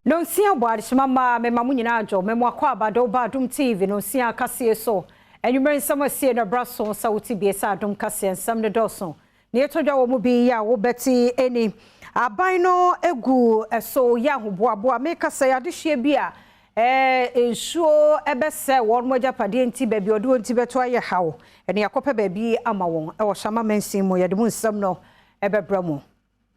Nonsia bɔ adesoma maa me ma mo nyinaa adwo me mo akɔ aba de wo ba adom TV nonsia kaseɛ so anwumerɛ nsɛm a ɛsie no ɛbra so sɛ wote bie sɛ adom kaseɛ nsɛm no dɔɔso nea ɛtɔ dwa wɔ mu bi yɛ a wo bɛte ɛni aban no gu ɛso yɛ ahoboaboa me kasa yɛ adehyeɛ bi a ɛɛ nsuo ɛbɛsɛ wɔn mo agyapadeɛ nti baabi ɔde wɔn ti bɛto ayɛ haw ɛne akɔpɛ baabi ama wɔn ɛwɔ hyɛ ama mansin mu yɛde mu nsɛm no ɛbɛbra mu.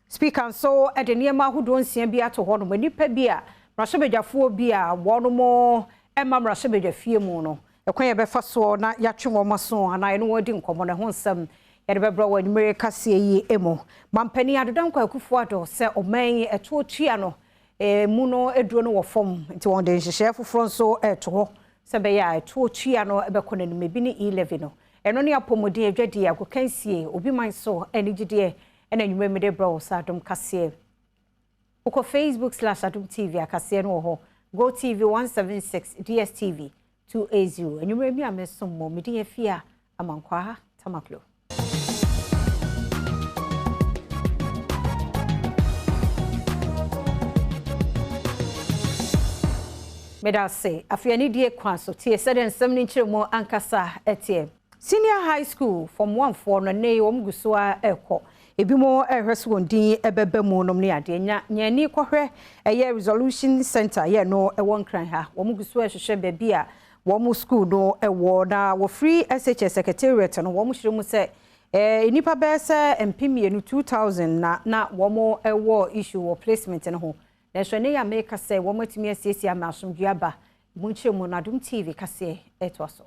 Speaker nso de nneɛma ahodoɔ nsia bi ato hɔ nom, nnipa bi a mmarahyɛbadwafoɔ bi a wɔnom mma mmarahyɛbadwafie mu no, ɛkwan a yɛbɛfa soɔ na yɛatwe wɔn aso anaa yɛne wɔn adi nkɔmmɔ no, ɛho nsɛm yɛde bɛbrɛ wɔ anwummere kaseɛ yi mu. Mampanin Ado Dankwa Akufo Addo sɛ ɔman yi ɛtoɔ tua no mu no aduro no wɔ fam, nti wɔde nhyehyɛeɛ foforɔ nso reto hɔ sɛ ɛbɛyɛ a ɛtoɔ tua no bɛkɔ n'anim, ebi ne E-Levy no, ɛno ne apɔmuden, adwadie, agokansie, obi man so anigyedeɛ, Ɛna anwummerɛ mede brɛ wo sɛ adom kaseɛ wokɔ facebook slash adom tv akaseɛ no wɔ hɔ go tv 176 dstv 280 anwummerɛ mi a mesom mo medin afie a amankwaa tamaklo meda ase afei anidie kwan so tie sɛdeɛ nsɛm no nkyerɛmu ankasa ɛteɛ. Senior High School Form One foɔ no nnɛ yi wɔn gu so ara rekɔ. Ebinom rehwɛ sɛ wɔn din bɛba mu nom ne adeɛ. Nya nya ani kɔhwɛ ɛyɛ Resolution Centre yɛ no wɔ Nkran ha. Wɔn gu so rehwehwɛ baabi a wɔn sukuu no wɔ na wɔfiri SHS Secretariat no wɔn kyerɛ mu sɛ eh, nnipa bɛyɛ sɛ mpem mmienu, 2000, na na wɔn wɔ issue wɔ placement no ho. Nanso ɛnnɛ yi a mereka sɛ wɔn atumi asiesie ama asomdwoeɛ aba. Emu nkyerɛmu no Adom TV kaseɛ ɛtoa so.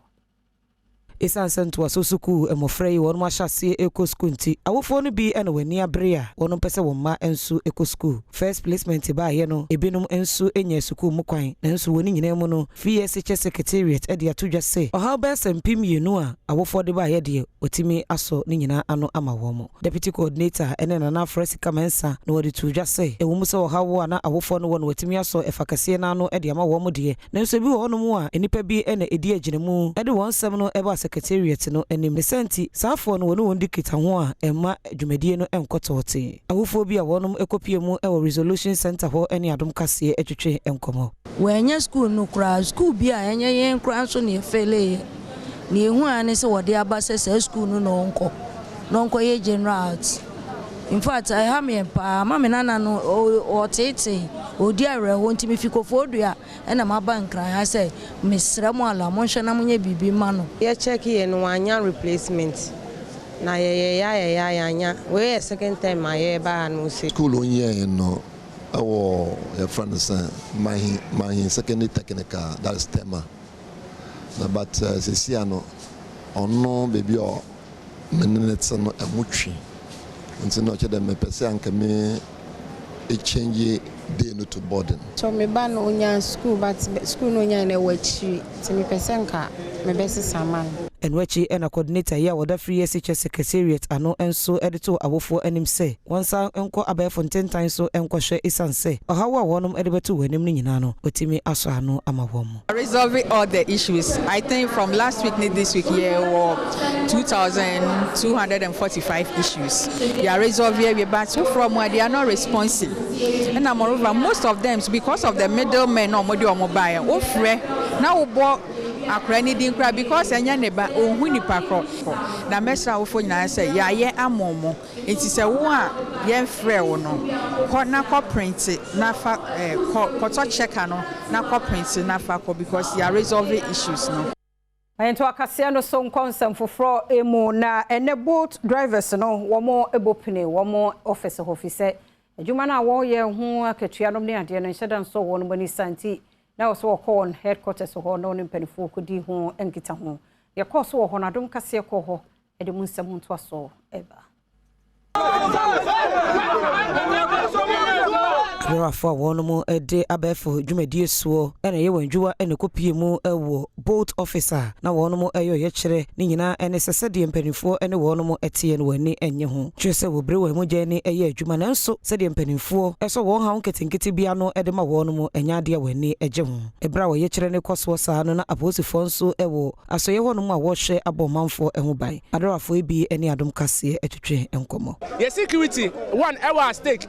Esiane sɛ ntoaso sukuu mmofra yi wɔn ahyɛ aseɛ kɔ sukuu nti, awofoɔ no bi na wɔn ani abere a wɔn mpɛ sɛ wɔn mma nso kɔ sukuu. First Placement baeɛ no, ebinom nso nyaa sukuu mu kwan. Nanso wɔ ne nyinaa mu no, Free SHS Secretariat de ato dwa sɛ, ɔhaw bɛyɛ sɛ mpem mmienu a awofoɔ de baeɛ deɛ, wɔatumi asɔ ne nyinaa ano ama wɔn. Deputy Coordinator ne Nana Afra Sika Mensah na wɔde too dwa sɛ, ɛwɔ mu sɛ ɔhaw a na awofoɔ no wɔ no wɔatumi asɔ ɛfa kɛseɛ no ara ano de ama wɔn deɛ, Nanso ebi wɔ hɔnom a nnipa bi na edi agyinamu de wɔn nsɛm no ba Secretariat no anim. Ne saa nti, saa afoa no wɔne wɔn di kita ho a ɛmma dwumadie no nkɔ tɔɔtee. Ahufoɔ bi a wɔnom kɔpue mu wɔ Resolution Centre hɔ ne Adom Kaseɛ twetwe nkɔmmɔ. Wɔannya sukuu no koraa. Sukuu bi a ɛnyɛ yɛn koraa nso na yɛfeeleeɛ. Deɛ ɛhu ara ne sɛ wɔde aba sɛ saa sukuu no na ɔnkɔ na ɔnkɔyɛ General Arts. In fact, ɛha me yɛ paa. Ma me nana no, ɔteetee, ɔredi awerɛhoɔ nti mefi Kofoɔdua na maba Nkran ha sɛ mesrɛ mo Allah monhwɛ na monyɛ biribi mma no. Yɛ check yɛ no wannya replacement na yɛ yɛ ya yɛ ya yannya wei yɛ second term a yɛ ba ha no ose. School a ɔnyɛɛ no wɔ yɛfrɛ no sɛn Mahi Mahi secondary technical that is Tema. na but eh sɛsi a no ɔno baabi a me ne no te no ɛho twi nti na ɔkyɛ dɛ mepɛ sɛ anka me change day no to boarding. So me ba no ɔnya school but school no ɔnyae no ɛwɔ akyiri nti mepɛ sɛ nka mebɛsesa ama no. Ɛno akyi na coordinator yi a ɔda Free SHS Secretariat ano nso de too awofoɔ anim sɛ wɔnsan nkɔ abɛɛfo ntentan so nkɔhwɛ esiane sɛ ɔhaw a wɔnom de bɛto wɔn anim no nyinaa no wɔtumi asɔ ano ama wɔn. Resolve all the issues I think from last week ne this week yɛ wɔ two thousand two hundred and forty five issues yɛ resolve yɛ wie but foforɔ ɔmo a they are not responsive ɛna moreover most of them because of the middle men na ɔmo de ɔmo ba yɛ wofrɛ na wobɔ akora ne din koraa because ɛnyɛ ne ba ohun nipa korɔ na mɛsra awofo nyinaa sɛ yɛayɛ amomo Enti sɛ wo a yɛmfrɛɛ wo no, kɔ na kɔprente na fa kɔ, kɔtɔ checker no na kɔprente na fa kɔ because yɛ a resolve issues no. Nto akaseɛ no so nkɔ nsɛm foforɔ mu na ɛnɛ bolt drivers no wɔn bɔ pini wɔn office hɔ fisɛ adwuma no a wɔn yɛ ho akatua nom ne adeɛ no nhyɛ da nsɔ wɔn nom ani saa nti na ɛwɔ sɛ wɔkɔ wɔn headquarters hɔ na wɔne mpanifoɔ kɔdi ho nkita ho deɛ ɛkɔɔ so wɔ hɔ no adom kaseɛ kɔɔ hɔ ɛde mu nsɛm ntoasoɔ ɛba. Camerafoɔ a wɔnom de abɛɛfo dwumadie soɔ na ɛyɛ wɔn adwuwa na ɛkɔpie mu wɔ Bolt office a na wɔnom ɛyɛ ɔyɛkyerɛ ne nyinaa ne sɛ sɛdeɛ mpaninfoɔ ne wɔnom teɛ no wɔn ani nnye ho kyerɛ sɛ wɔbire wɔn mogya ani yɛ adwuma nanso sɛdeɛ mpaninfoɔ sɔ wɔn haw nketenkete bi ano de ma wɔnom ɛnyɛ adeɛ a wɔn ani gye ho. Ɛberɛ a ɔyɛkyerɛ no rekɔ soɔ saa no na apolisifoɔ nso wɔ Asɔeɛ hɔ nom a wɔhwɛ abɔ ɔmanfoɔ ɛho ban. Adarafoɔ yi bi ne adom kaseɛ ɛtwetwe nkɔmɔ. Yɛ security one ɛwɔ a stake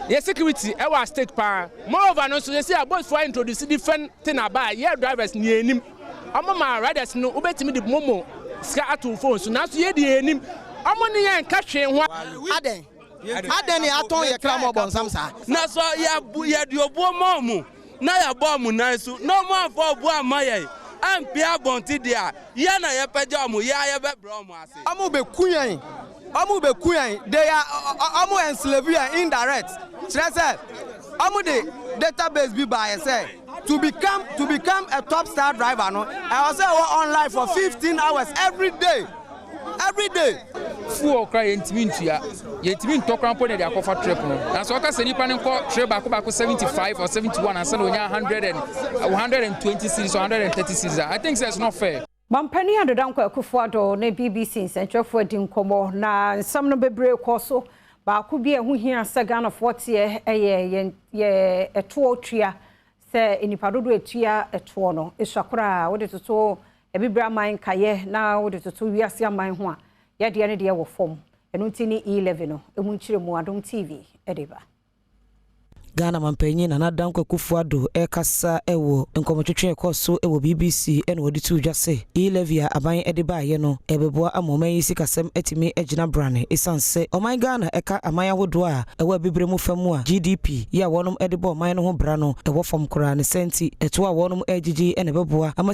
yɛ security ɛwɔ a stake paa moreover no nso sɛsei a bolt foɔ a introduce different thing aba a yɛ drivers no yɛ nim ɔmo ma riders no wobɛtumi de momo sika ato wo phone so nanso yɛ deɛ yɛ nim ɔmo ne yɛn nka hwee ho Adɛn? Adɛn ne atɔn yɛ kra ma ɔbɔnsam saa? Na sɔ yɛ yɛde obuo ma ɔmo. na yɛbɔɔ mo nan so na ɔmo amfa ɔbo amma yɛn ampia abɔnten deɛ a, yɛn na yɛpɛgya ɔmo, yɛn ara yɛbɛbrɛ ɔmo ase. Ɔmo beku yɛn, ɔmo beku yɛn, they are, ɔmo enslave yɛn indirect, kyerɛ sɛ, ɔmo de data base bi baeɛ sɛ, to become, to become a top star driver no, ɛwɔ sɛ wɔ online for fifteen hours every day. everyday. Fuel koraa yɛntumi ntua. Yɛntumi ntɔ koraa mpo na yɛde akɔfa trip no. Nanso ɔka sɛ nipa no nkɔ trip baako baako 75 or 71 ansa na onya 100 and 120 series or 130 series a, I think sɛ it's not fair. Mampanin Ado Dankwa Akufo-Addo ne bbc nsɛnkyerɛfoɔ adi nkɔmmɔ, na nsɛm no bebree kɔɔ so. Baako bi a ɛho hia sɛ Ghanafoɔ teɛ yɛ yɛn yɛ ɛtoɔ tua, sɛ nnipa dodoɔ a ɛtua ɛtoɔ no sua koraa a, wode toto Abibire aman nkaeɛ na wode toto wiase aman ho a, yɛdeɛ no deɛ wɔ fam. Ɛno nti ne E Levy no mu nkyerɛmu Adom TV de ba. Ghana Manpanyin Nana Addo Dankwa Akufo-Addo rekasa wɔ nkɔmmɔtwetwe a ɛkɔɔ so wɔ BBC na wɔde too dwa sɛ E Levy a aban de baeɛ no ɛbɛboa ama ɔman yi sikasɛm atumi agyina brane ɛsiane sɛ ɔman Ghana ɛka aman ahodoɔ a ɛwɔ abibire mu fa mu a GDP yɛ a wɔnom de bɔ ɔman no ho bra no ɛwɔ fam koraa ne saa nti ɛtoɔ a wɔnom ɛregyegye na ɛbɛboa ama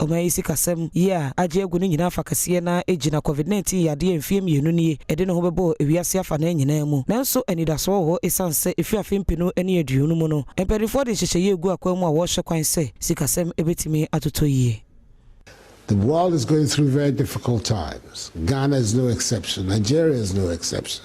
Ɔman yi sikasɛm yi a agye agu no nyina afa kɛseɛ no ara gyina Covid 19 yadeɛ a mfeɛ mmienu nie ɛde ne ho bɛbɔɔ ewiase afanaa nyinaa mu. Nanso anidasoɔ wɔ hɔ ɛsiane sɛ ɛfiri afe mpenu ne aduonu mu no mpaninfoɔ de nhyehyɛeɛ regu akwan mu a wɔrehwɛ kwan sɛ sikasɛm bɛtumi atotɔ yie. The world is going through very difficult times, Ghana is no exception, Nigeria is no exception.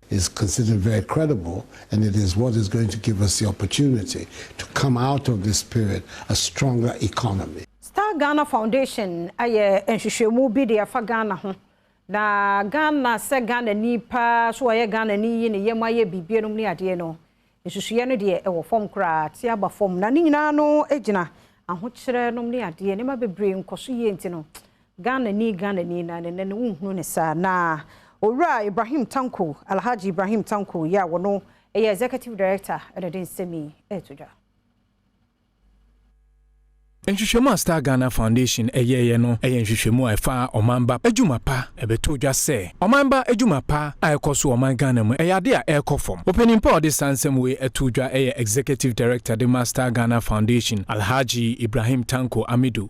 is considered very credible and it is what is going to give us the opportunity to come out of this period a stronger economy. Star Ghana Foundation ayɛ nhwehwɛmu bi de afa Ghana ho, na Ghana sɛ Ghanani paa, so ɔyɛ Ghanani yi ne yam ayɛ biribi nom ne adeɛ no, Nsusuiɛ no deɛ ɛwɔ fam koraa, te aba fam, na ne nyinaa ano gyina ahokyerɛ nom ne adeɛ, nneɛma bebree nkɔso yie nti no, Ghanani Ghanani na ɛnɛ no wonhunu no saa. Na Owura Ibrahim Tanko, Alhaji Ibrahim Tanko, yi a wɔno yɛ Executive Director na ɛde nsɛm yi reto dwa. Nhwehwɛmu a Star Ghana Foundation yɛeɛ no yɛ nhwehwɛmu a ɛfa ɔman ba adwuma pa. Ɛbɛtoo dwa sɛ, ɔman ba adwuma pa a ɛkɔ so wɔ ɔman Ghana mu yɛ adeɛ a ɛrekɔ fam. Ɔpanin pa a ɔde saa nsɛm wei too dwa yɛ Executive Director de ma Star Ghana Foundation, Alhaji Ibrahim Tanko Amidu.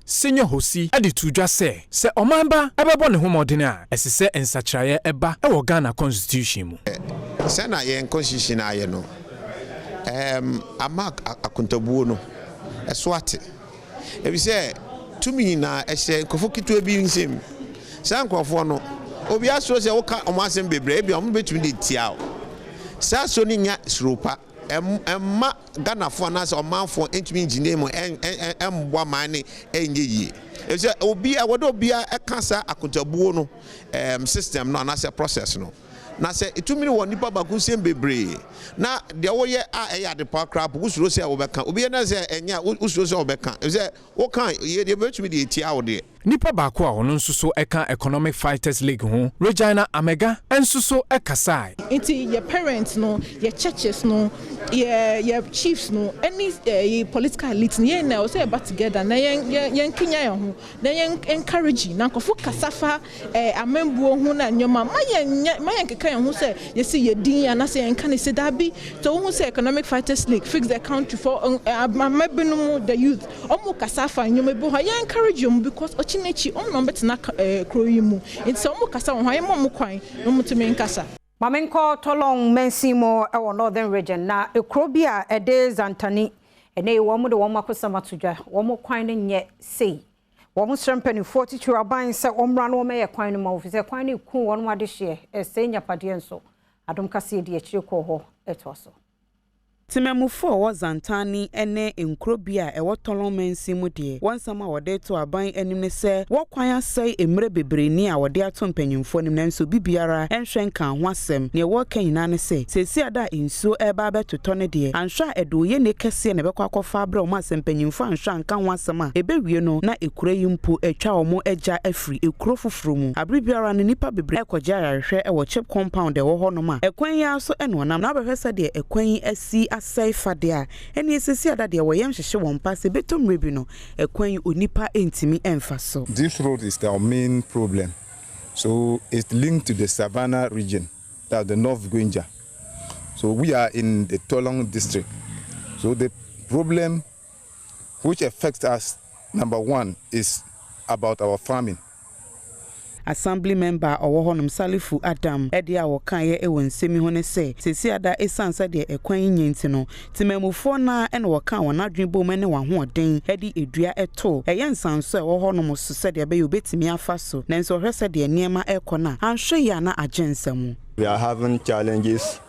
Senyo Hosi de too dwa sɛ, sɛ ɔman ba bɛbɔ ne ho mmɔden a, ɛse sɛ nsakyeraeɛ ba wɔ Ghana Constitution mu. Sɛ na yɛn Constitution ayɛ no, ɛɛm ama akontabuo no so ate. Efisɛ tumi na ɛhyɛ nkorɔfoɔ ketewa bi nsam. Saa nkorɔfoɔ no, obiara suro sɛ woka wɔn asɛm bebree a, ebia wɔbɛtumi de atia wo. Saa suro no nnya suro pa. Ɛmma Ghanafoɔ anaasɛ ɔmanfoɔ ntumi ngyina mu mmboa man no nyɛ yie. Efisɛ obiara ɛwɔ dɛ obiara ɛka saa akotabuo no system no anaasɛ process no. Na sɛ tumi no wɔ nipa baako nsam bebree na deɛ woyɛ a ɛyɛ adepa koraa mpo wosuro sɛ wobɛka. Obi yɛ na sɛ ɛnyɛ a wosuro sɛ wobɛka. Efisɛ woka a yɛbɛtumi de atia wo deɛ. Nipa baako a ɔno nso so ka Economic Fighters League ho, Regina Amega nso so kasae. Nti yɛ parents no, yɛ churches no, yɛ yɛ chiefs no ɛne yɛ political elite no yɛn nyinaa ɛwɔ sɛ yɛ ba together na yɛn yɛn yɛn kenya yɛn ho na yɛn encourage na nkorɔfo kasa fa ɛɛ amambuo ho na nneɛma ma yɛn nyɛ ma yɛn keka yɛn ho sɛ yɛsi yɛ din anasɛ yɛn ka ne se daabi sɛ wohu sɛ economic fighters league fix the country for ɛɛ ama binom the youth. Ɔmo kasa fa nneɛma bi ho a yɛ encourage ɔmo because ɔkye no akyi ɔmo na ɔmo bɛtena kuro yi mu nti sɛ ɔmo kasa wɔ ho a yɛ ma ɔmo kwan na ɔmo tumi nkasa. Ma me nkɔ Tolong mansin mu wɔ Northern Region na kuro bi a ɛde Zantani, ɛnɛ yi wɔn de wɔn akosɛm ato dwa, wɔn kwan no nyɛ sei. Wɔn srɛ mpaninfoɔ titiriw aban sɛ wɔmmra na wɔmɛyɛ kwan no ma wɔ fisɛ kwan no reku wɔn adehyeɛ, ɛresɛe nyapadeɛ nso. Adom kaseɛ di akyire kɔɔ hɔ toa so. Temamufo a wɔwɔ Zantani ne nkuro bi a ɛwɔ Tolon mansin mu deɛ, wɔn nsɛm a wɔde to aban anim ne sɛ wɔ kwan asɛe mmerɛ bebree ni a wɔde ato mpanyinfoɔ anim nanso obi biara nhwɛ nkaa ho asɛm. Neɛ wɔreka nyinaa ne sɛ seesei ada a nsuo reba abɛtotɔ no deɛ, anhwɛ a ɛde oyennie kɛseɛ na ɛbɛkɔ akɔfa abrɛ wɔn a sɛ mpanyinfoɔ anhwɛ anka ho asɛm a ɛbɛwie no na ekuro yi mpo atwa wɔn agya afiri. firi ekuro foforɔ mu. Abere biara no nnipa bebree kɔgye ayarehwɛ wɔ chip compound a ɛwɔ hɔ nom a ɛkwan yi ara so na wɔnam na wɔbɛhwɛ sɛdeɛ ɛkwan yi asi asɛe fa deɛ a ɛneɛ sɛsi ada deɛ wɔyɛ nhyehye wɔn mpa sɛ ɛbɛtɔ mmerɛ bi no ɛkwan yi onipa ntumi mfa so. This road is our main problem so it linked to the Savana region that's the North Gwenja so we are in the Tolong district so the problem Which effect as number one is about our farming? Assembly member a ɔwɔ hɔnom, Salifu Adam, deɛ a ɔkaeɛ wɔ nsɛm yi ho ne sɛ, Seesei ada ɛsiane sɛdeɛ ɛkwan yi nyɛ nti no, temanmufoɔ no ara na wɔkaa wɔn adwene boom ne wɔn ahoɔden de dua too ɛyɛ nsanso a ɛwɔ hɔnom so sɛdeɛ ɛbɛyɛ wɔbɛtumi afa so, nanso wɔhwɛ sɛdeɛ nneɛma rekɔ no a, anhwɛ yie a na agye nsa mu. We are having challenges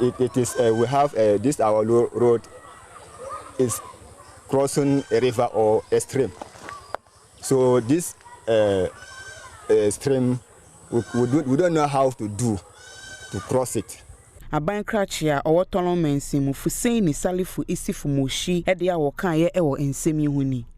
it it is uh, we have uh, this our road is crossing a river or a stream. So this uh, uh, stream, we, we, do, we don't know how to do to cross it. Aban krakye a ɔwɔ Tɔlɔn mansin mu Fuseni Salifu Isifu Moshi de a wɔkaeɛ wɔ nsɛm yi ho ni.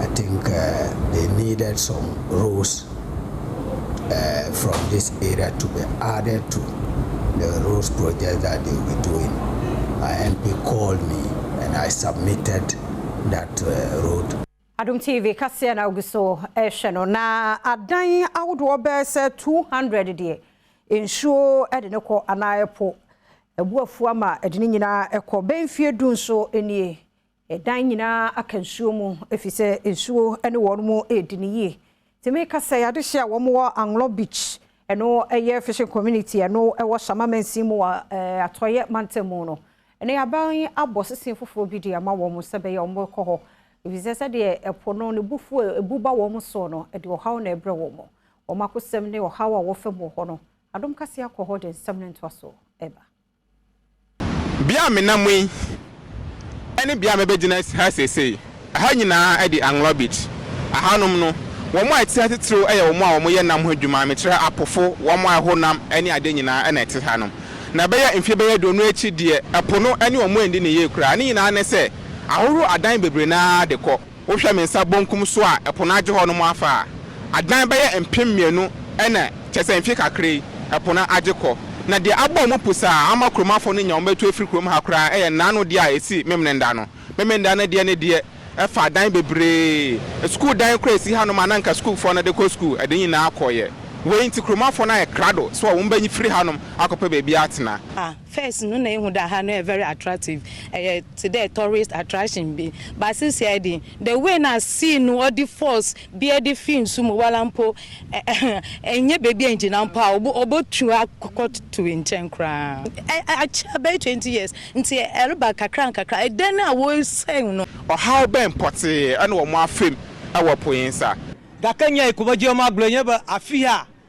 I think they needed some roles from this area to be added to the roads project that they will be doing. My MP called me and I submitted that road. Adom TV kaseɛ na wogu so rehwɛ no na adan ahodoɔ bɛyɛ sɛ 200 deɛ nsuo de ne kɔ anaa ɛpo abu afu ama ɛde ne nyinaa kɔ bɛyɛ mfeɛ du nso nie Dan nyinaa aka nsuo mu, ɛfiri sɛ nsuo ne wɔn redi no yie. Nti meka sɛ adehyeɛ a wɔwɔ Anglong Beach, ɛno yɛ fishing community a ɛno wɔ Shama mansin mu wɔ Atɔeɛ mantam mu no, ɛnɛ aban yi abɔ sesee foforɔ bi de ama wɔn sɛ ɛbɛyɛ a wɔbɛkɔ hɔ, ɛfiri sɛ sɛdeɛ ɛpo no ne bufuo a ɛbu ba wɔn soɔ no, ɛde ɔhaw na ɛrebrɛ wɔn. Wɔn akosɛm ne ɔhaw a wɔfa mu wɔ hɔ no, adom kaseɛ akɔ hɔ de nsɛm no ntoasoɔ reba. Bea a menam yi ne bea a mebɛgyina ha seesei. Ɛha nyinaa de Anglor Beach. Ɛhanom no, wɔn a ɛte ha titiriw yɛ wɔn a wɔyɛ nam ho adwuma, mekyerɛ apofo, wɔn a ɛho nam ne ade nyinaa na ɛte hanom. Na ɛbɛyɛ mfe bɛyɛ aduonu akyi deɛ, po no ne wɔn andi no yie koraa. Ne nyinaa ne sɛ, ahorow adan bebree no ara de kɔ. Wohwɛ me nsa bonkum so a ɛpo no agye hɔ nom afa a, adan bɛyɛ mpem mmienu na kyerɛ sɛ mfe kakra yi ɛpo no agye kɔ. Na deɛ abɔ mu pusa a ama kuromafo no nya wɔn atu afiri kurom ha koraa yɛ nnaano deɛ a ɛsi Memnenda no. Memenda no deɛ ne deɛ ɛfa adan bebree, sukuu dan koraa a ɛsi hanom a na anka sukuufoɔ no de kɔ sukuu, ɛde nyinaa kɔeɛ. Wei nti kuromafo no ayɛ krado sɛ wɔn bɛfiri hanom akɔpɛ baabi atena. Ah, First no na ehu dɛ ha no yɛ very attractive, ɛyɛ tse dɛ tourist attraction bi, but sesei de, the way na sea no ɔde force bi de fi nsu mu wara mpo, nnyɛ beebi a inngyina mpo a obotu akɔto nkyɛn koraa. Akyɛ bɛyɛ twenty years ntsi ereba nkakrankakra, dan a woesɛɛ no. Ɔhaw bɛn pɔtsee na wɔafa mu wɔ Po Nsa? Daka nyae kɔbɔgye ɔmo agorɔ nyɛ bɛ afi ha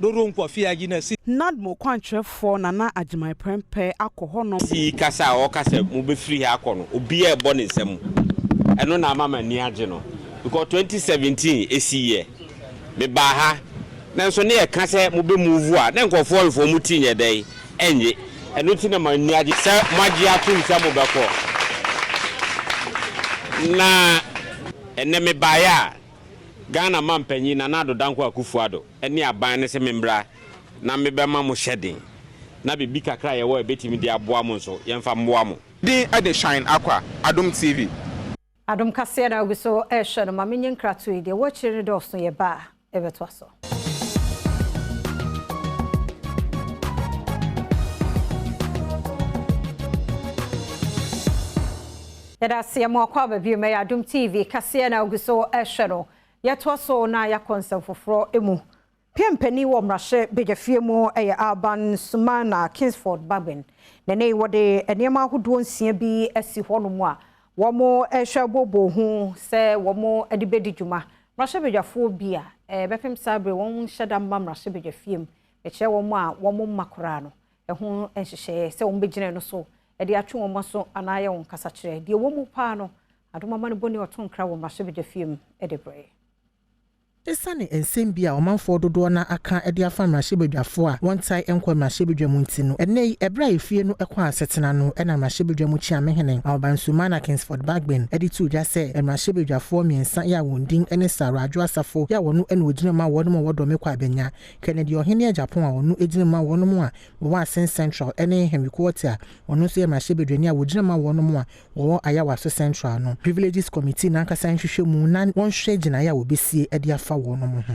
Dodo Nkwa fie agye na si. NADMO kwankyerɛfoɔ Nana Agyemang Prempeh akɔ hɔnom. Ɔsi yi kasa a ɔka sɛ mo bɛ firi ha akɔ no obiaa ɛbɔ ne nsa mu ɛno na ama m'ani agye no because twenty seventeen ɛsi yɛ me baa ha nanso ne yɛ ka sɛ mo bɛ move a na nkorɔfoɔ nfo ɔmo ti nyɛ dɛn ɛnye ɛno nti na m'ani agye sɛ mo agye atom sɛ mo bɛkɔ na ɛnɛ me baeɛ a Ghana Mampanyin Nana Addo Dankwa Akufo-Addo ne aban no sɛ memmra na mebɛma mo hyɛden na biribi kakra a yɛwɔ a yɛbɛtumi de aboa mo nso, yɛmfa mmoa mo. Din de Shine Akwa, Adom TV. Adom kaseɛ na ogu so rehwɛ no ma menye nkratoɔ yi deɛ ɛwɔ akyire no dɔɔso yɛba a yɛbɛtoa so. Yɛda aseɛ mo akɔ aba bio mɛyɛ Adom TV kaseɛ na ogu so ɛhwɛ no yɛtoa so na yɛakɔ nsɛm foforɔ mu. PM panin wɔ mmarahyɛ badwafie mu yɛ Alban Sumana Kingsford Bagbin. Na ɛnɛ yi wɔde nneɛma ahodoɔ nsia bi asi hɔnom a wɔrehwɛ abooboo ho sɛ wɔde bɛdi dwuma Mmarahyɛbadwafoɔ bi a bɛpem saa bere wɔn nhyɛ da mma mmarahyɛbadwafie mu bɛkyerɛ wɔn a wɔn mma koraa no ho nhyehyɛeɛ sɛ wɔn bɛgyina ɛno so de atwe wɔn aso anaa ayɛ wɔn kasakyerɛ. Deɛ ɛwɔ mu paa no, Adom Amanebɔni ɔto nkra wɔ mmarahyɛbadwafie mu de brɛ. Esiane nsɛm bi a ɔmanfoɔ dodoɔ no ara aka de afa mmarahyɛbadwafoɔ a wɔntae nkɔ mmarahyɛbadwa mu nti no, ɛnnɛ yi, ɛberɛ a efie no kɔɔ asetena no na mmarahyɛbadwa mu Kyeamehene Ahobansumana Kingsford, Bagbin de too dwa sɛ mmarahyɛbadwafoɔ mmiɛnsa yi a wɔn din ne Sarah Adwo Asafo yi a ɔno na ɔgyina mu ma wɔnom a wɔdɔ me kɔ a bɛnya Kennedy Ɔhene Agyapong a ɔno gyina mu ma wɔnom a wɔwɔ Asen Central ne Henry Quartey a ɔno nso yɛ mmarahyɛbadwani a ɔgyina mu ma wɔnom a wɔwɔ Ayawaso Central no Privileges Committee no ankasa nhwehwɛ mu na wɔnhwɛ gyinaeɛ a wɔbɛsie de afa wɔnom ho.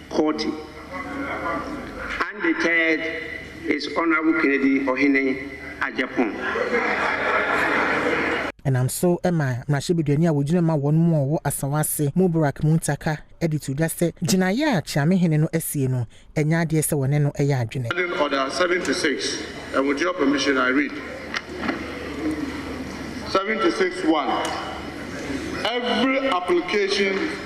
Courte. Undeterred is Honourable Kennedy Ohene Agyapong. Ɛnam so ma mmarahyɛbadwani a wɔgyina ma wɔn mu a wɔwɔ Asawase mu Burack Muntaka de to dwa sɛ gyinaeɛ a Kyeame hene no asie no, ɛnyɛ adeɛ sɛ wɔne no yɛ adwene. Standing Order seven to six, and with your permission I read seven to six one, Every application.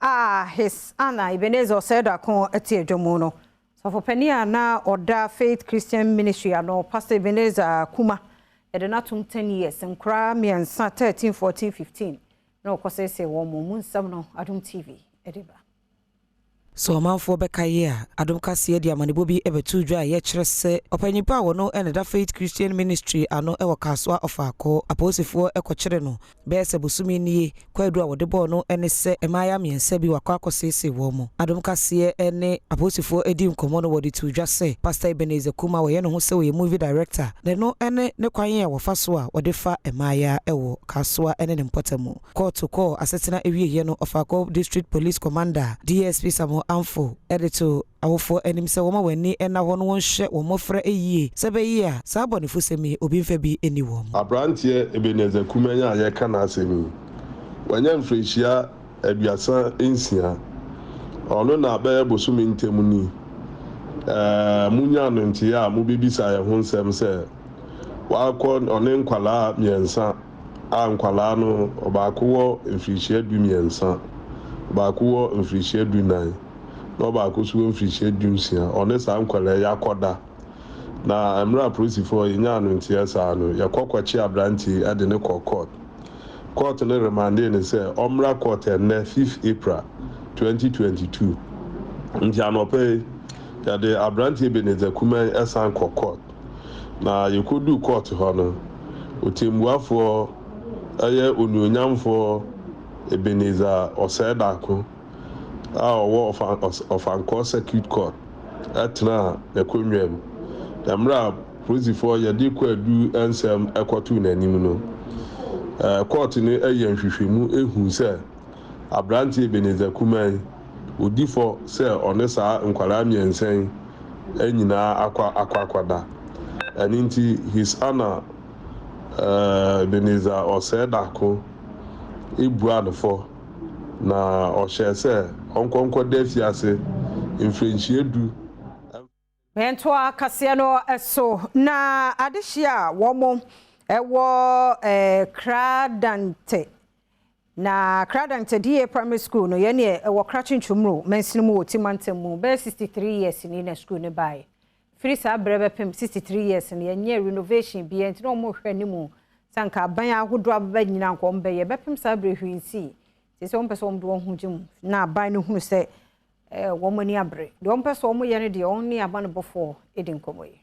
a His Honor Ebenezer Osei Darko te adwa mu no, Sɔfopanin a na ɔda Faith Christian Ministry ano, Pastor Ebenezer Kumah, yɛde no atom ten years, nkoraa mmiɛnsa, thirteen, fourteen, fifteen, na ɔkɔseesee wɔn. Emu nsɛm no Adom TV de ba. Sɛ ɔmanfoɔ bɛkae a, Adom Kaseɛ de amanebɔ bi bɛtoo dwa a ɛyɛ kyerɛ sɛ ɔpanyin pa a ɔno na ɛda Faith Christian Ministry ano wɔ Kasoa Ɔfaako, apolisifoɔ kɔkyere no. Bɛyɛ sɛ bosome nie kwaadu a wɔde bɔɔ no ne sɛ mmayewa mmiɛnsa bi wɔakɔ akɔseesee wɔn. Adom Kaseɛ ne apolisifoɔ adi nkɔmmɔ no wɔde too dwa sɛ Pastor Ebenezer Kumah a ɔyɛ ne ho sɛ ɔyɛ movie director de no ne ne kwan a wɔfa so a wɔde fa mmayewa wɔ Kasoa ne ne mpɔtam kɔɔ to kɔɔ asetena awieɛ no ɔfaa kɔ District Police Commander DSP Samuel Amfo de too Awofoɔ anim sɛ wɔma wɔn ani nna hɔ no wɔnhwɛ wɔn mmɔfra yie sɛ ɛbɛyɛ a saa abɔnefosɛm yi obi mfa bi nni wɔn. Aberanteɛ Ebenezer Kumanya a yɛreka n'asɛm yi, wanya mfirihyia aduasa nsia. Ɔno na bɛyɛ bosome ntam ni ɛɛ monyaa no nteeɛ a mobɛbisa yɛn ho nsɛm sɛ wakɔ ɔne nkwadaa mmiɛnsa a nkwadaa no ɔbaako wɔ mfirihyia du mmiɛnsa, ɔbaako wɔ mfirihyia du nan. na ɔbaako so wɔ mfirihyia dunsia. Ɔne saa nkwadaa yi akɔda, na mmerɛ a apolisifoɔ nyaa no nteɛ saa no, yɛkɔ kɔkye aberanteɛ yi de no kɔɔ kɔɔt. Kɔɔt no remandee no sɛ ɔmmra kɔɔt ɛnnɛ, fifth April, twenty twenty two. Nti anɔpa yi, yɛde aberanteɛ Ebenezer Kuman san kɔ kɔɔt, na yɛkɔduu kɔɔt hɔ no, Ɔtɛmmuafoɔ, ɛyɛ Onuonyamfoɔ Ebenezer Ɔsɛɛdaako, a ɔwɔ Ɔfankɔɔ Circuit Court tenaa n'akonnwa mu. Mmerɛ a polisifoɔ yɛde kɔ adu nsɛm kɔtoo n'anim no, kɔɔte no yɛɛ nhwehwɛmu huu sɛ aberanteɛ Ebenezer Kumah yi, ɔdi fɔ sɛ ɔne saa nkwadaa mmiɛnsa yi nyinaa akɔ akɔakɔda. Ɛno nti His Honour Ebenezer Ɔsɛɛdako buaa no fɔ. na ɔhyɛɛ sɛ ɔnkɔ nkɔda afiase mfrenhyia du mfa. Ntoa kaseɛ no so, na adehyeɛ a wɔwɔ Kradante, na Kradante DA Primary School no, yɛneɛ ɛwɔ Krachi Ntwomuro mansini mu wɔ Ti mantam mu, bɛyɛ 63 years ni na sukuu no baeɛ, Firi saa berɛ bɛpem 63 years no yɛnyɛɛ renovation biaa nti na wɔn rehwɛ anim sɛ anka aban ahodoɔ abɛba nyina anka wɔn bɛyɛ. Bɛpem saa berɛ yi hwee nsii. Seisei wɔn pɛ sɛ wɔn de wɔn ho gye mu. Na aban no hunu sɛ eh wɔn ani abere. Deɛ wɔn pɛ sɛ wɔn yɛ no deɛ wɔn ne abanebɔfoɔ di nkɔmmɔ yi.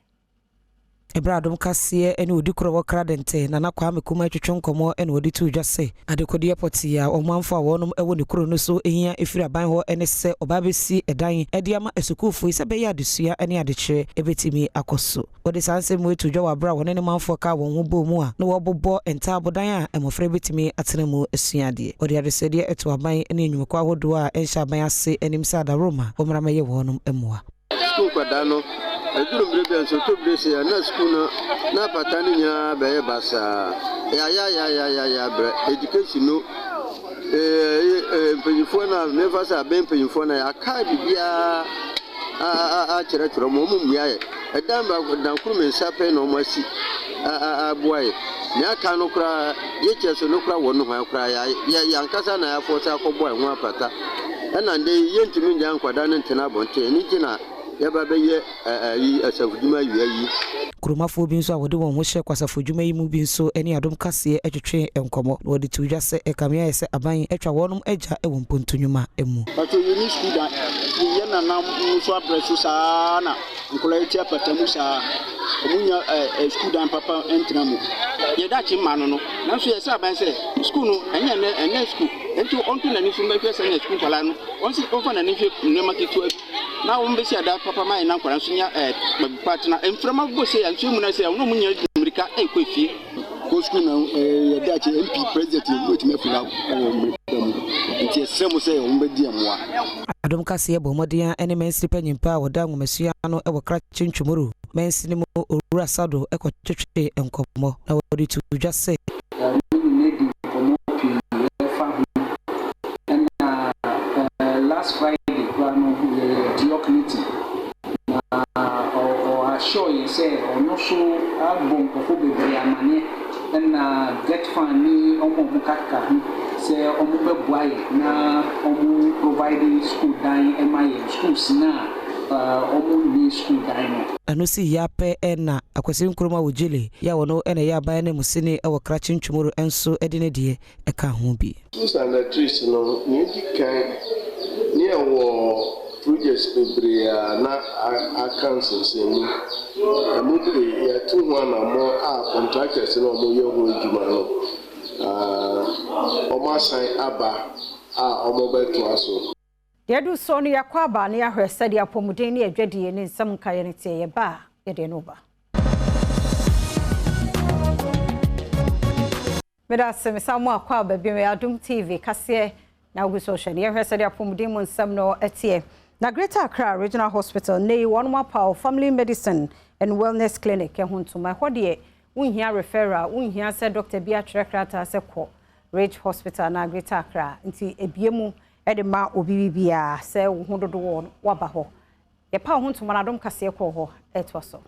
Ɛberɛ a dom kaseɛ ne odikorɔ wɔ Kradente, Nana Kwame Kumah retwetwe nkɔmmɔ na wɔde too dwa sɛ, Adekodeɛ pɔtee a ɔmanfoɔ a wɔnom wɔ ne kuro no so hia firi aban hɔ ne sɛ ɔbaa bɛsi dan de ama asukuufoɔ yi sɛ ɛbɛyɛ a adesua ne adekyerɛ bɛtumi akɔ so. Wɔde saa nsɛm yi too dwa wɔ berɛ a wɔne ne manfoɔ kaa wɔn ho bɔɔ mu a na wɔrebobɔ ntaabodan a mmɔfra yi bɛtumi atena mu asua adeɛ. Wɔde adesɛdeɛ too aban ne nnwumakuo ahodoɔ a ɛnhyɛ aban ase anim sɛ adaworoma wɔmmra mmɛyɛ wɔnom mmoa. Sukuu nkwadaa no, ɛduru mmerɛ bi a nsotodwe se a na sukuu no n'apata no nyinaa bɛyɛ basaa. Yayayayayaya berɛ education no eh mpanyinfoɔ no a mefa sɛ abɛn mpanyinfoɔ no a yɛaka biribiara akyerɛkyerɛ wɔn, wɔn mmuaeɛ. Ɛdan baako, dan koro mmiɛnsa pɛ na wɔasi. a boa yɛ. Nea aka no koraa, ye kyerɛ sɛ no koraa wɔ no hwan koraa ya yɛ yɛ ankasa na ya fɔse akɔ bɔ ɛho apata. Ɛna ndɛ yi yɛ ntumi ngyae nkwadaa no ntena abɔnten, ɛno nti na yɛ ba bɛ yɛ ɛyi asafo dwuma awia yi. Kuromafoɔ bi nso a wɔde wɔn ho hyɛ kwasafo dwuma yi mu bi nso ne Adom Kaseɛ twetwee nkɔmɔ na wɔde too dwa sɛ ɛkame ayɛ sɛ aban atwa wɔnom agya wɔ mpontu nwuma mu. Pacho yɛni sukuu dan yɛyɛ nanam mu so abrɛ so saa na. Nkwadaa yi te apata mu saa a, wɔnnya ɛɛ sukuudan papa ntena mu. Yɛn daakye mma no no. Nanso yɛn sraban sɛ, sukuu no, ɛnyɛ nnɛ, ɛnyɛ sukuu. Enti ɔnto n'ani so nhwɛ sɛnea sukuu nkwadaa no, ɔnsi, ɔmfa n'ani nhwɛ nneɛma ketewa bi na wɔbɛsi adan papa ma yɛn na nkwadaa nso nya ɛɛ baabi pa atena. Mframa bɔ sei a, nsuo amuna sei a, wɔn a wɔnnya mmirika nkɔ efie. kɔ sukuu na ɛyɛ daakye MP president yɛ wobɛtumi apira wɔ mmerika mu nti ɛsrɛ mo sɛ wɔn bɛdi mmoa. Adom kaseɛ bɔ mmɔden a ɛne mansini panyin pa a wɔda nwomasua ano wɔ Krache Ntwomoro mansini mu Owura Sado kɔ twetwee nkɔmmɔ na wɔde too dwa sɛ, Me ne no adi nkɔmmɔ pii ɛfa ho ɛna last Friday koraa no yɛyɛ Diok meeting Na ɔ ɔ assure yɛn sɛ ɔno nso abɔ nkurɔfoɔ bebree amaneɛ ɛna Getfan ne wɔn a wɔkakaka ho sɛ wɔbɛboa yɛn na wɔn provide sukuu dan ma yɛn, schools no a ɔ ɔ wɔnwie sukuu dan no. Ɛno sii yɛ apɛ ɛna Akwasi Nkrumah Ojile, yɛ a ɔno na ɛyɛ aban ananmusini wɔ Krakye Ntwomuro nso de ne deɛ. ka ho bi. Susan na Trish no, nea edi kan ne ɛwɔ projects bebree a na aka nsensɛnmu. Ɛmu pii, yɛatu ho anammɔn a contractors na wɔyɛ ho adwuma no, wɔasan aba a wɔbɛtoa so. Yɛadu so no, yɛakɔ aba na yɛahwɛ sɛdeɛ apɔmuden ne adwadie ne nsɛm nkaeɛ no teɛ. Yɛba a, yɛde ɛno ba. Meda ase mesan mu akɔ aba bio. Ɛyɛ Adom TV kaseɛ na wogu so rehwɛ no. Yɛnhwɛ sɛdeɛ apɔmuden mu nsɛm no teɛ. Na Greater Accra Regional Hospital, nnɛ yi wɔnom apaw Family Medicine and Wellness Clinic ho ntoma. Ɛhɔ deɛ wonhia referral, wonhia sɛ dɔkta bi atwerɛ krataa sɛ kɔ Reg Hospital anaa Greater Accra. Nti ɛbue mu de ma obi bibiara sɛ wo ho dodo wɔ no woaba hɔ. Yɛpaw ho ntoma no Adom kaseɛ kɔɔ hɔ. Ɛtoa so.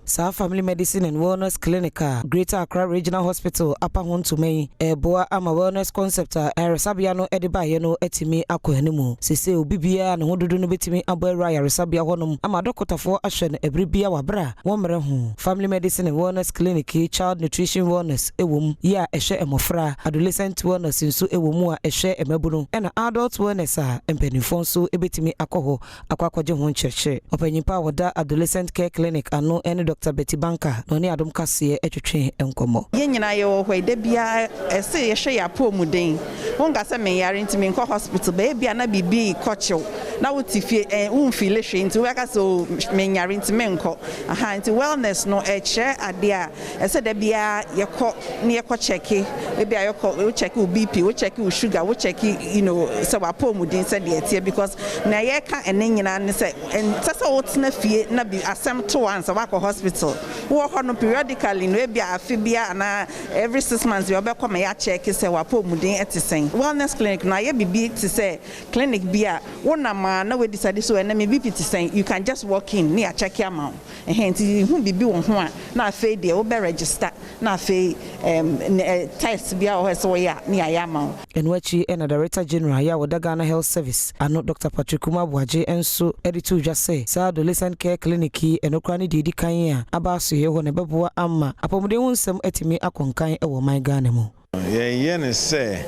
Saa Family Medicine and Wellness Clinic a Greater Accra Regional Hospital apa ho ntoma yi reboa ama wellness concept a ayaresabea no de baeɛ no atumi akɔ anim. Seesei obi biara a ne ho dodo no bɛtumi abɔ awura ayaresabea hɔnom ama adɔkotafoɔ ahwɛ no ɛberɛ biara wɔ aberɛ a wɔmmrɛ ho. Family Medicine and Wellness Clinic yi Child Nutrition Wellness wɔ mu, yi a ɛhwɛ mmɔfra, Adolescent Wellness nso wɔ mu a ɛhwɛ mmabunu, ɛna Adult Wellness a mpanimfoɔ nso bɛtumi akɔ hɔ akɔ akɔgye ho nkyerɛkyerɛ. Ɔpanyin pa a ɔda Adolescent Care Clinic ano ne Dɔkta Betty Banka na ɔne Adom Kaseɛ twetwee nkɔmmɔ. Yɛn nyinaa yɛwɔ hɔ yi, da biara ɛsɛ yɛhwɛ yɛn apɔwmuden. Wonka sɛ menyare nti menkɔ hospital, but ebia na biribi rekɔ kyew na wote fie ɛ, womfeeli hwee nti wobɛka sɛ oh menyare nti menkɔ. Aha, nti wellness no ɛkyerɛ adeɛ a Ɛsɛ da biara yɛkɔ na yɛkɔ kyɛke, ebi a yɛkɔ wo kyɛke wo BP, wo kyɛke wo sugar, wo kyɛke you know sɛ w'apɔwmuden sɛdeɛ ɛteɛ because nea yɛka ɛnɛ nyinaa ne sɛ ɛnsɛ sɛ wotena fie na bi asɛm to wo ansa woakɔ hospital. Wowɔ hɔ no periodically no ebi a afe biara anaa every six months biara wobɛkɔ ma yɛakyɛke sɛ w'apɔwmuden ɛte sɛn. Wellness clinic no ayɛ biribi te sɛ clinic bi a wonam a na woadecide sɛ o ɛnɛ me BP te sɛn, you can just walk in na yɛakyɛke ama wo. Ɛhɛn, ntsi hu biribi wɔ ho a, na afei deɛ wobɛ register, na afei ɛɛm nɛ ɛ test biara wɔ hɔ a ɛsɛ wɔyɛ a, na yɛayɛ ama wo. Ɛno akyi na Director General yɛ a ɔda Ghana Health Service ano, Dɔkta Patrick Kumar Boagye nso de too dwa sɛ, saa Adolescent Care Clinic yi, ɛno koraa ne deɛ edi kan a aba asoɛeɛ hɔ na ɛbɛboa ama apɔmuden ho nsɛm atumi akɔ nkan wɔ ɔman Ghana mu. Yɛyɛ no sɛ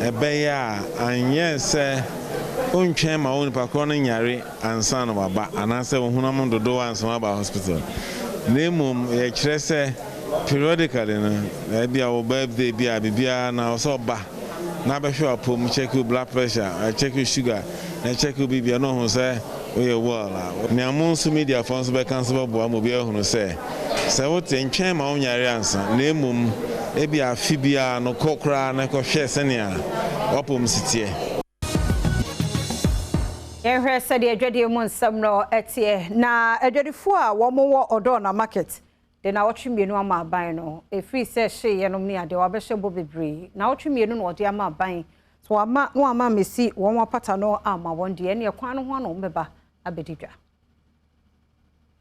ɛbɛyɛ a anyɛ sɛ wontwɛn ma onipa korɔ no nyare ansa na waba anaasɛ wo honam no dodow ansa na waba hospital na mmom yɛkyerɛ sɛ periodically no ebia wo birthday bi a biribiara na ɔsɛ ɔba na abɛhwɛ w'apɔm, check wo blood pressure, check wo sugar. na ɛkyɛke obi bia na ɔhu sɛ woyɛ well a, nea mo nso mediafoɔ nso bɛka nso bɛboa ma obi ahunu sɛ, sɛ wote, ntwɛn ma wonyare ansa, na mmom ebia afe biara no kɔ koraa na kɔhwɛ sɛnea w'apɔm si teɛ. Yɛnhwɛ sɛdeɛ adwadie mu nsɛm no teɛ, Na adwadifoɔ a wɔwɔ Odorna market De naawɔtwe mmienu ama aban no. Ɛfiri sɛ hye yɛnom ne adeɛ, wɔabɛhyɛ bɔ bebree. Naawɔtwe mmienu na wɔde ama aban. Sɛ wɔamma na wɔamma ammɛsi wɔn apata no amma wɔn deɛ, ɛnneɛ kwan no ho ano bɛba abɛdi dwa.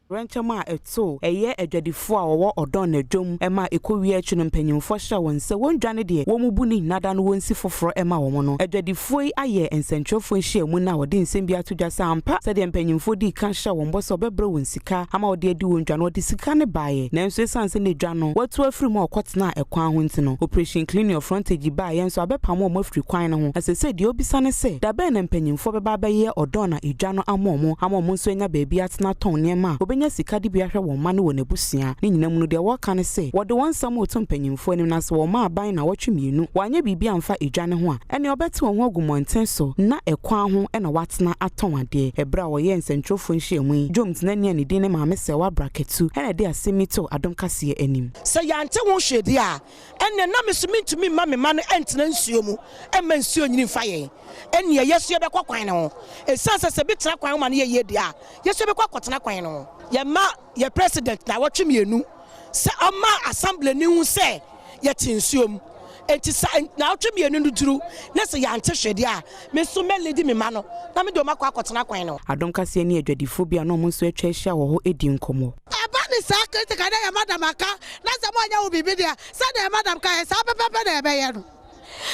Awerɛnkyɛm a ɛto ɛyɛ adwadifoɔ a wɔwɔ ɔdɔn na dwom ma ɛkɔwie akyi no mpanimfoɔ hyɛ wɔn sɛ wɔn dwa ne deɛ wɔn bu no nyinaa da no wɔnsi foforɔ ma wɔn no. Adwadifoɔ yi ayɛ nsɛntwerɛfoɔ nhyiamu no a wɔde nsɛm bi ato dwa sɛ ampa sɛdeɛ mpanimfoɔ dii kan hyɛɛ wɔn bɔ sɛ wɔbɛbrɛ wɔn sika sika ama wɔde adi wɔn dwa no, wɔde sika no baeɛ. Nanso ɛsiane sɛ na dwa no wɔatu afiri mu a wɔkɔtenaa ɛkwan ho nti no, Operation Clean Your Frontage baeɛ nso abɛpamo wɔn afiri kwan no ho. Na seesei deɛ wɔbisa ne sɛ, da bɛn na mpanimfoɔ bɛba abɛyɛ ɔdɔn a dwa no ama wɔn ama wɔn nso anya baabi atena atɔn nneɛma a wɔbɛnya sika de bi ahwɛ wɔn mma ne wɔn abusua. Ne nyinaa mu no, deɛ wɔka ne sɛ, wɔde wɔn nsɛm reto mpanimfoɔ anim na sɛ wɔma aban nnawɔtwe mmienu wɔanyɛ biribi amfa dwa no ho a, ɛnneɛ wɔbɛte wɔn ho agu mmɔnten so na ɛkwan ho na wɔatena. tena atɔn adeɛ. Berɛ a wɔyɛɛ nsɛntwerɛfoɔ nhyiamu yi, Joe Mtnani a ne din ne Maame Sewaa Brakatu na ɛde asɛm yi too Adom Kaseɛ anim. Sɛ yɛante ho hwee deɛ a, ɛnneɛ na me nso mentumi mma me mma no ntena nsuo mu mma nsuo nnyini mfa yɛn. Ɛnneɛ yɛn nso yɛbɛkɔ kwan no ho. Ɛsiane sɛ sɛ bi tena kwan ho ma no yɛ yie deɛ a, yɛn nso yɛbɛkɔ akɔtena kwan no ho. Yɛn mma yɛ president nnawɔtwe mmienu sɛ ɔmma Assembly no nhu sɛ yɛte nsuo mu. Enti sɛ nnawɔtwe mmienu no duru na sɛ yɛante hwee deɛ a, me nso mɛ leadi me mma no na me deɛ wɔn akɔ akɔtena kwan no. Adom kaseɛ ne adwadifoɔ bi a na wɔn nso atwa ahyia wɔ hɔ redi nkɔmmɔ. Ɛba ne saa critical na yɛ madam aka na sɛ moanyɛ wo biribi deɛ a, sɛdeɛ madam kaeɛ saa pɛpɛpɛ na yɛbɛyɛ no.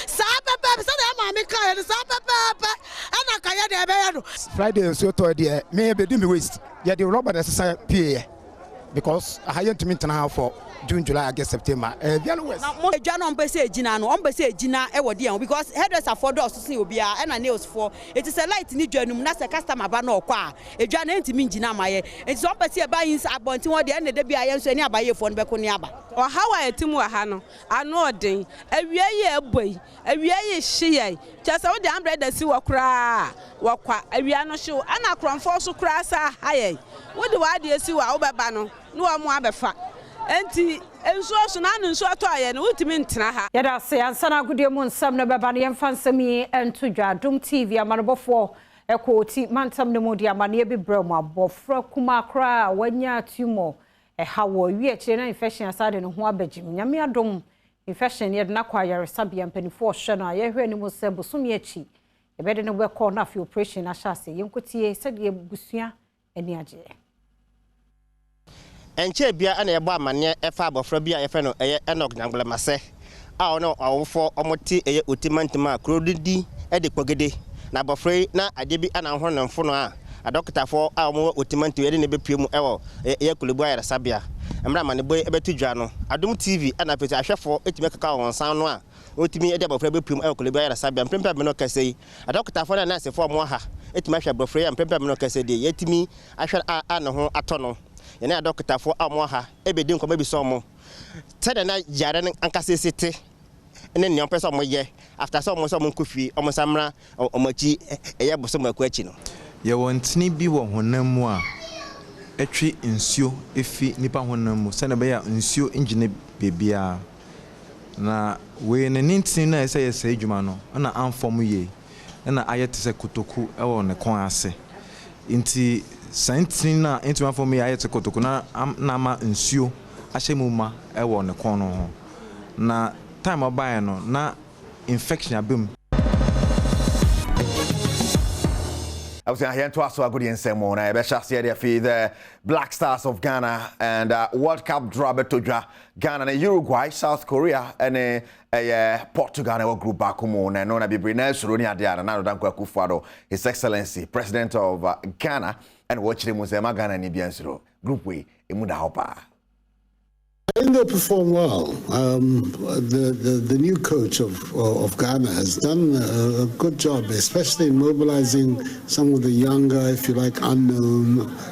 Saa pɛpɛɛpɛ, sɛdeɛ yɛn maame kaeɛ no, saa pɛpɛɛpɛ na anka yɛn deɛ yɛbɛyɛ no. Friday nsuo tɔɛ deɛ me ɛbɛdi me waist, yɛde rubber na ɛsesa pieeɛ because aha yɛntumi ntena ha for June, July, August, September, ɛyɛ very worse. Na mo adwa no wɔn pɛ sɛ ɛgyina no, wɔn pɛ sɛ ɛgyina wɔ deɛ ho because hairdresser foɔ dɔɔso sen obiara ɛna nails foɔ, nti sɛ light no dwa no mu na sɛ customer ba na ɔkɔ a ɛdwa no ɛntumi ngyina mma yɛn, nti sɛ wɔn pɛ sɛ yɛba ins abɔnten hɔ deɛ ɛnna dabiara yɛn nso yɛne abayiefoɔ no bɛko ne aba. Ɔhaw a ɛte mu wɔ ha no, Anoɔden. Awia yi a ɛbɔ yi, awia yi hye yɛn, kyerɛ sɛ wode ambrɛda si hɔ koraa a, wɔkwa. Awia no hye wo. Ɛna korɔmfoɔ so koraa sa ha yɛn. Wode w'adeɛ si hɔ a, wobɛba no ne wɔn abɛfa. Enti nsuo so no, ano nsuo atɔ yɛn no, wontumi ntena ha. Yɛda ase. Ansa na agodie mu nsɛm no bɛba no, yɛmfa nsɛm yi nto dwa. Dom TV amanebɔfoɔ kɔ Oti mantam no mu de amanneɛ bi brɛɛ mu. Abɔfra kumaa koraa a wanya tumor Ɛha wɔ wi akyire na infection asan de ne ho abɛgyem. Nyame adom, infection no yɛde no akɔ ayaresabea, mpaninfoɔ ɔhwɛ no a yɛhwɛ anim sɛ bosome akyi yɛbɛde no bɛkɔ na afei operation no ahyɛ aseɛ. Yɛnkɔtie sɛdeɛ abusua ani agyeɛ. Ɛnkyɛɛ biara na yɛbɔɔ amanneɛ faa abɔfra bi a yɛfrɛ no Enoch Nyangblema sɛ. a ɔne wɔn awofoɔ wɔte yɛ otimantim a kuro no di de kpogede. Na abɔfra yi na adeɛ bi na ahohoro ne mfono a adɔkotafoɔ a wɔwɔ otimantim de no bɛpue mu wɔ yɛ Korle Bu Ayaresabea. Mmerɛ amanebɔ yi bɛto dwa no, Adom TV na afei nso ahwɛfoɔ tumi keka wɔn nsa ano a wɔtumi de abɔfra yi bɛpue mu wɔ Korle Bu Ayaresabea. Mprempren a me ne wo kasa yi, adɔkotafoɔ ne nɛɛsefoɔ a wɔwɔ ha tumi ahwɛ abɔfra yi a mprempren a me ne wo kasa yi deɛ, yɛatumi ahwɛ no a ne ho atɔ no. Yɛne adɔkotafoɔ a wɔwɔ ha bedi nkɔmmɔ abisa wɔn sɛnea na yare no ankasa si te ne nea wɔpɛ sɛ wɔyɛ after sɛ wɔn sɛ wɔnkɔ fie, wɔn nsa mmra wɔn akyi ɛyɛ bosome baako akyi no. Yɛwɔ ntini bi wɔ honam mu a ɛtwe nsuo fi nipa honam mu sɛnea ɛbɛyɛ a nsuo ngyina baabiara. Na wei no ne ntini no a ɛsɛ sɛ ɛyɛ saa adwuma no na amfɔm yie. na ayɛ te sɛ kotoku wɔ ne kɔn ase. Enti saa ntini no a entumi afɔm yi ayɛ te kotoku no na ama nsuo ahyɛ mu ma wɔ ne kɔn no ho. Na time a ɔbaeɛ no, na infection aba mu. Abusua, yɛn toa so agodie nsɛm mu na yɛbɛhyɛ aseɛ de afi the Black Stars of Ghana and uh, World Cup draw bɛtɔ dwa. Ghana ne Uruguay, South Korea ne Ɛyɛ Portugal na ɛwɔ group baako mu na ɛno na bebree na ɛsoro ne adeɛ a Nana Addo Dankwa Akufo-Addo, His Excellency, President of uh, Ghana, ɛna wɔkyerɛ mu sɛ ɛma Ghana ni bia nsoro. Group wei, emu da hɔ paa. I think they'll perform well. Um, the, the, the new coach of uh, of Ghana has done a, a, good job, especially in mobilizing some of the younger, if you like, unknown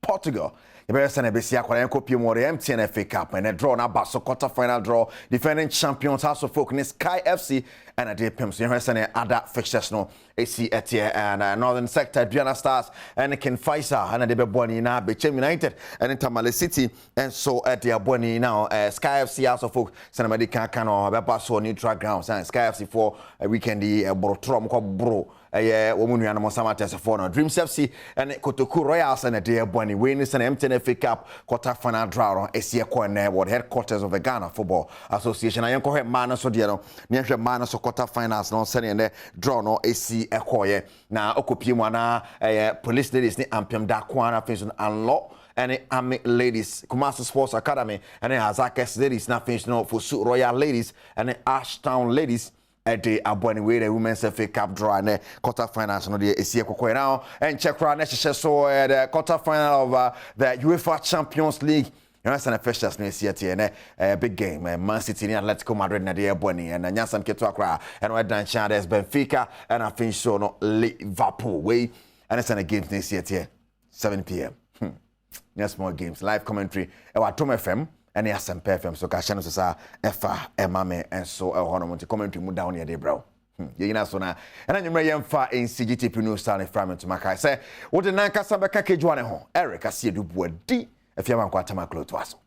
Portugal yɛbɛhwɛ sɛnea ɛbɛsi akɔ na yɛnkɔpie mu wɔ the MTN FA Cup ɛnɛ draw no aba so quarter final draw defending champions House of Folk ne Sky FC ɛna de pem so yɛhwɛ sɛnea ada fixtures no ɛsi ɛteɛ ɛna Northern Sector Aduana Stars ɛne King Faisal ɛna de bɛbɔ ani na Bechem United ɛne Tamale City ɛnso ɛde abɔ ani na eh, Sky FC House of Folk sɛnea mɛde kan kan no ɛbɛba so neutral grounds and Sky FC foɔ eh, weekend yi ɛboro torɔ mokɔ boro Ɛyɛ wɔn nuanom nsam ateasefoɔ no, Dreams FC ne Kotoku Royals na ɛde rebɔ ani. Wei ne sɛnea MTN FA Cup quarter final draw no si rekɔ nnɛ wɔ the headquarters of the Ghana Football Association. Na yɛnkɔhwɛ mmaa no so deɛ no, na yɛnhwɛ mmaa no so quarter finals no sɛnea nnɛ draw no si kɔeɛ. Na ɔkɔpie mu anaa ɛyɛ Police Ladies ne Ampem Dakoa na afei nso no Anlɔ ne Army Ladies, Kumasi Sports Academy ne Azakes Ladies na afei nso no Fosu Royal Ladies ne Ashtown Ladies de aboa ne wei dɛ women's fa cup draw a nɛ quarter finals no deɛ ɛsi ɛkɔkɔɛ na ɛnkyɛ koraa na ɛhyehyɛ so ɛ the quarter final of uh, the UEFA Champions League ɛna sɛ na fixtures no ɛsi ɛteɛ nɛ uh, big game uh, Man City ne Atletico Madrid na deɛ ɛbɔ ni ɛna nyansam ketewa koraa ɛna ɛda nkyɛn a there's Benfica ɛna afei nso no Liverpool wei ɛna sɛ na games no ɛsi ɛteɛ 7pm hmm. nyɛ small games live commentary ɛwɔ atom fm ɛne asɛmpa fm so kahyɛ no so saa ɛfa ɛma me nso ɛwɔ hɔnom nti commentary mu da wo ne yɛde brɛ wo hmm, yɛnyina so na ɛna nwummerɛ yɛmfa nsi gtp no saa ne fra me ntoma kae sɛ wode nankasa bɛka kedwoa ne ho eric aseɛ dubuadi afiamankwatama klotoa so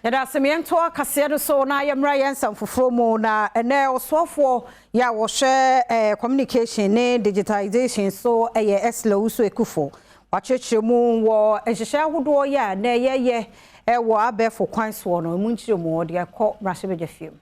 Yɛda ase ma yɛntoa kaseɛ no so na yɛmmra yɛn nsɛm foforɔ mu. Na ɛnɛ ɔsoafoɔ yɛ a wɔhwɛ eh, communication ne digitization so yɛ Esla Owusu Ekufo. Wakyerɛkyerɛ mu wɔ nhyehyɛ ahodoɔ yɛ a na yɛyɛ eh, wɔ abɛɛfo kwan soɔ no, ɛmu nkyerɛ mu ɔde akɔ mmarahyɛbadwafie mu.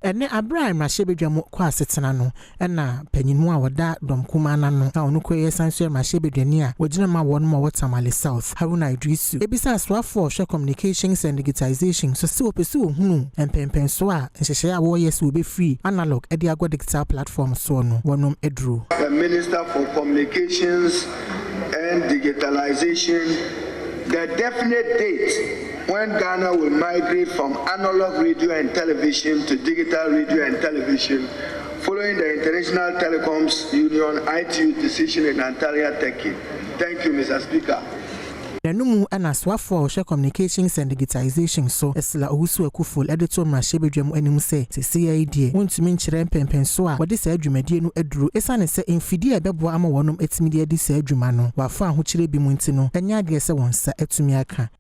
Ɛnnɛ, bere a mmrahyɛbadwam kɔ asetena no, ɛna panyin mu a ɔda dɔm kumaa no ano a ɔno koraa yɛ san so mmrahyɛbadwani a ogyina ma wɔn ma wɔ Tamale South, Haruna Iddrisu, abisa asoafo a wɔhwɛ Communications and Digitisation so sɛ wɔpɛ sɛ wɔhunu mpɛnpɛnsoɔ a nhyehyɛe a wɔreyɛ sɛ wɔbɛfiri analog de akɔ digital platform soɔ no wɔ no aduru. The Minister for Communications and Digitalisation, The definite date. When Ghana will migrate from analog radio and television to digital radio and television following the International Telecoms Union, ITU, decision in Antalya, Turkey. Thank you, Mister Speaker. N'ano mu na soafo a ɔhwɛ Communications and Digitisation so, Ursula Owusu-Ekuful de too mmarahyɛbadwa mu anim sɛ, Seesei ara yi deɛ, wontumi nkyerɛ mpɛnpɛnsoɔ a wɔde saa dwumadie no aduru esiane sɛ mfidie a ɛbɛboa ama wɔnom atumi de adi saa dwuma no, wɔ afa ahokyerɛ bi mu nti no, ɛnyɛ adeɛ sɛ wɔn nsa atumi aka.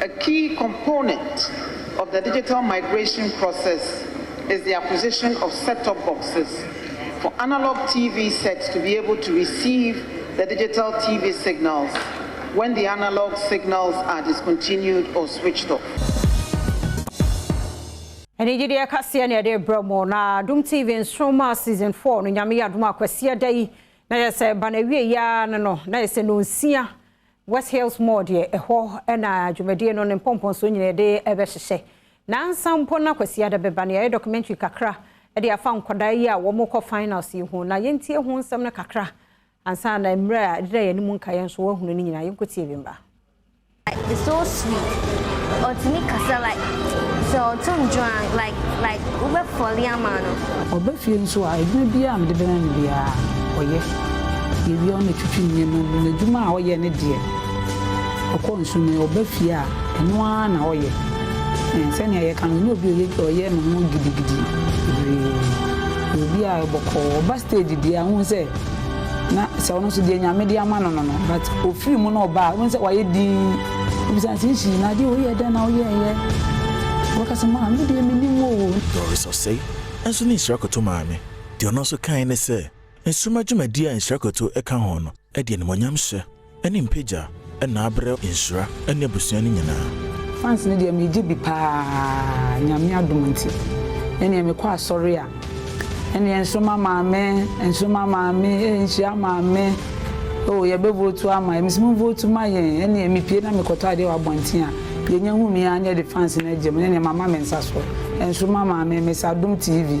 A key component of the digital migration process is the acquisition of set-top boxes for analog TV sets to be able to receive the digital TV signals when the analog signals are discontinued or switched off. Anigyedeɛ kaseɛ na yɛde rebrɛ mo na Adom TV Nsoromma Season 4 no Nyame yɛ adom a Kwasida yi na yɛsɛ ba no awieeɛ ara no no na yɛsɛ nonsia West Hills Mall deɛ ɛhɔ na dwumadie no ne mpɔmpɔnsoɔ nyinaa yɛde rebɛhyehyɛ. Nansa mpo na Kwasiada bɛba no yɛayɛ documentary kakra de afa nkwadaa yi a wɔrekɔ finals yi ho. Na yɛntie ho nsɛm no kakra ansa na mmerɛ a ɛdeda yɛn anim nkaeɛ nso wɔahunu no nyinaa. Yɛnkɔtie bi mma. Like it's so sweet. Otumi kasa like sɛ ɔto ndwoan like like wobɛ fɔle ama no. Ɔba fie nso a, adwuma biara a mede bɛma no biara ɔyɛ. Yɛwia wo na twitwi nneɛma mu. N'adwuma a ɔyɛ ne deɛ, ɔkɔ nsu mu, ɔba fie a, ɛno ara na ɔyɛ. Ɛɛ, sɛnea yɛka no, ɔnyɛ obi a ɔyɛ ɔyɛ ne ho gidigidi bebree. Ɔyɛ obi a ɔyɛ bɔkɔɔ. Ɔba stage deɛ a, wohu sɛ na sɛ ɔno nso deɛ Nyame de ama no no no, but ɔfiri mu na ɔba a, wohu sɛ wayɛ dinn. Wobisa no sɛ, Nhyii, na adeɛ wei yɛ dɛn na woyɛeɛ? Ɔbɛka sɛ, Maa, me deɛ mennim oo. Doris Osei nso ne nhyira kɔto maame. Deɛ ɔno nso kae ne sɛ. Nsoromma dwumadi a nhyira kotow ka ho no de animuonyamhyɛ ne mpagya na abrɛ nhyira ne abusua no nyinaa. Fans no deɛ megye bi paa Nyame adom nti ɛneɛ mekɔ asɔre a ɛneɛ nsoroma maame nsoroma maame eh nhyira maame oh yɛbɛ votu ama yɛ mese mo votu ma yɛn ɛneɛ mepie na mekɔtɔ adeɛ wɔ abɔnten a deɛ nya hu me aa na yɛde fans no agyam ɛneɛ mama me nsa so nsoroma maame mese adom TV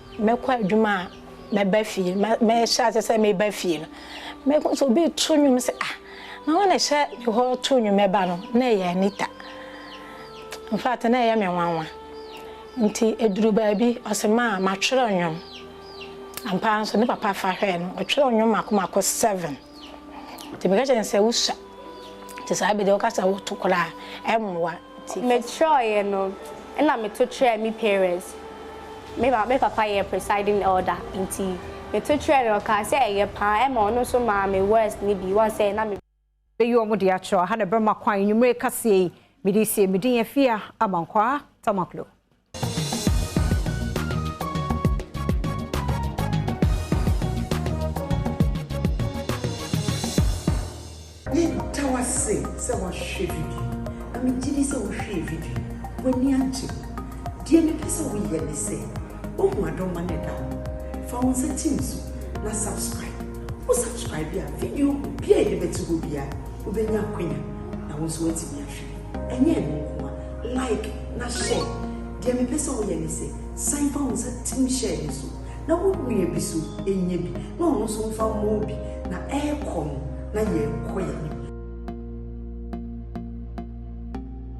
Mɛkɔ adwuma a, mɛba fie, mɛhyɛ ase sɛ mereba fie no, mɛhu sɛ obi reto nnwom sɛ, Ah, na hwan na ɛhyɛ me hɔ to nnwom ɛba no? Na ɛyɛ Anita. In fact, na ɛyɛ me nwanwa. Nti ɛduruu baabi, ɔse, Ma, matwerɛ nnwom. Ampa ara nso, ne papa fa hwɛɛ no, ɔtwerɛɛ nnwom mmaako mmaako seven. Nti meka kyerɛɛ no sɛ, Wosua. Nti saa bere deɛ woka sɛ woto koraa a, ɛmmoa. Mekyerɛeɛ no na meto kyerɛɛ me parents, me ma me papa yɛ presiding elder nti meto kyerɛɛ no ɔkaa sɛ ɛyɛ paa ɛma ɔno nso maa me words no bi woahu sɛ na me. Bɛyi wɔn de akyerɛ ɔha na ɛbɛma kwan anwummere kaseɛ yi mede resie me din Afia Amankwaa Tamaklo. Yɛda wo ase sɛ woahwɛ video yi, na megye di sɛ wohwɛɛ video yi, w'ani agye. Deɛ mepɛ sɛ woyɛ ne sɛ, woahu adɔma no a ɛda hɔ no, fa wo nsa tim so na subscribe. Wo subscribe a, video biara a yɛde bɛto hɔ biara, wobɛnya akwanya na wo nso woatumi ahwɛ. Ɛnyɛ ɛno nko a, like na share. Deɛ mepɛ sɛ woyɛ ne sɛ, san fa wo nsa tim share no so na wo nua bi nso nyɛ bi na ɔno nso mfa mmɔ wo bi na ɛrekɔ no na yɛrekɔ yɛn anim.